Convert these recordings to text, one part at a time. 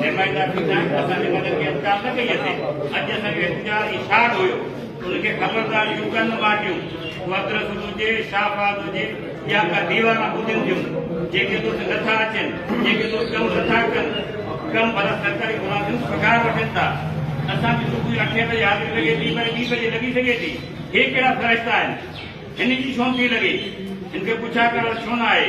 نمائندا ٿيندا آهن ته اسان نمائندن کي اختيار نه ڪئي اٿي اڄ اسان جو احتجاج اشاعت هيو ان کي خبردار يون ڪن ماٽيون مدرس هجي شاهباز هجي يا ڪا ديوانا ٻڌين ٿيون جيڪي دوست نٿا اچن جيڪي دوست ڪم نٿا ڪن ڪم ڀلا سرڪاري ملازم پگهار وٺن ٿا اسان کي صبح اٺين بجي حاضري لڳي ٿي وري ٻي بجي لڳي سگهي ٿي هي ڪهڙا فرشتا آهن هن جي ڇو نٿي لڳي هن کي پڇا ڪرڻ ڇو نه آهي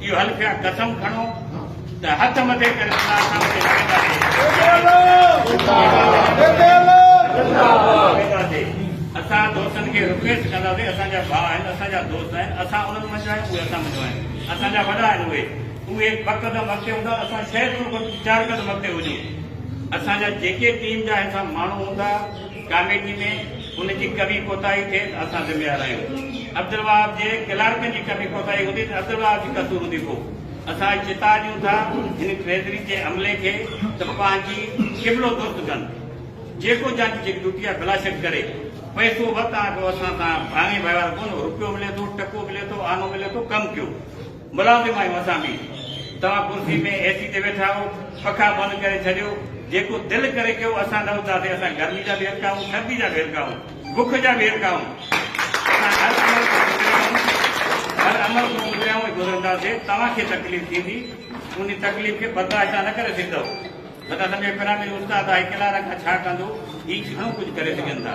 اهو هل پيا قسم کڻو ته هٿ مٿي ڪري خدا سان ڪري لڙنداسي اسان دوستن کي رڪويسٽ ڪنداسي اسان جا ڀاء آهن اسان جا دوست آهن اسان انهن منجهان آهيون اهي اسان منجهان آهن اسان جا وڏا آهن اهي اهي ٻه قدم اڳتي هوندا اسان شايد ان کان چار قدم اڳتي هجون اسان جا جيڪي ٽيم جا هيٺان ماڻهو هوندا ڪاميٽي ۾ ان جي ڪبي ڪوتاهي ٿئي ته اسان ذميوار آهيون. عبدالوهاب جي ڪلارڪن جي ڪبي ڪوتاهي هوندي ته عبدالوهاب جي قصور هوندي پوء اسان چتاء ڏيون ٿا هن ٽريزري جي عملي کي ته پنهنجي قبلو درست ڪن جيڪو جنهنجي جيڪي ڊيوٽي آهي بلاشڪ ڪري پئسو وت آهي پوء اسان سان ڀاڱي وهنوار ڪونه روپيو ملي ٿو ٽڪو ملي ٿو آنو ملي ٿو ڪم ڪيو. ملازم آهيون اسان به. توهان ڪرسي ۾ اي سي تي ويٺا آهيو، پکا بند ڪري ڇڏيو، جيڪو دل ڪري ڪيو، اسان نه اٿاسين، اسان گرمي جا به هيرکا آهيون، سردي جا به هيرکا آهيون، بک جا به هيرکا آهيون، اسان هر عمل کان گذريا آهيون، هر عمل کان گذريا آهيون ۽ گذرنداسين، توهان کي تڪليف ٿيندي، ان تڪليف کي برداشت توهان نه ڪري سگهندؤ، نه ته اسان جو اي پرامي استاد آهي، ڪلارا کان ڇا ڪندو، هي گهڻو ڪجهه ڪري سگهن ٿا.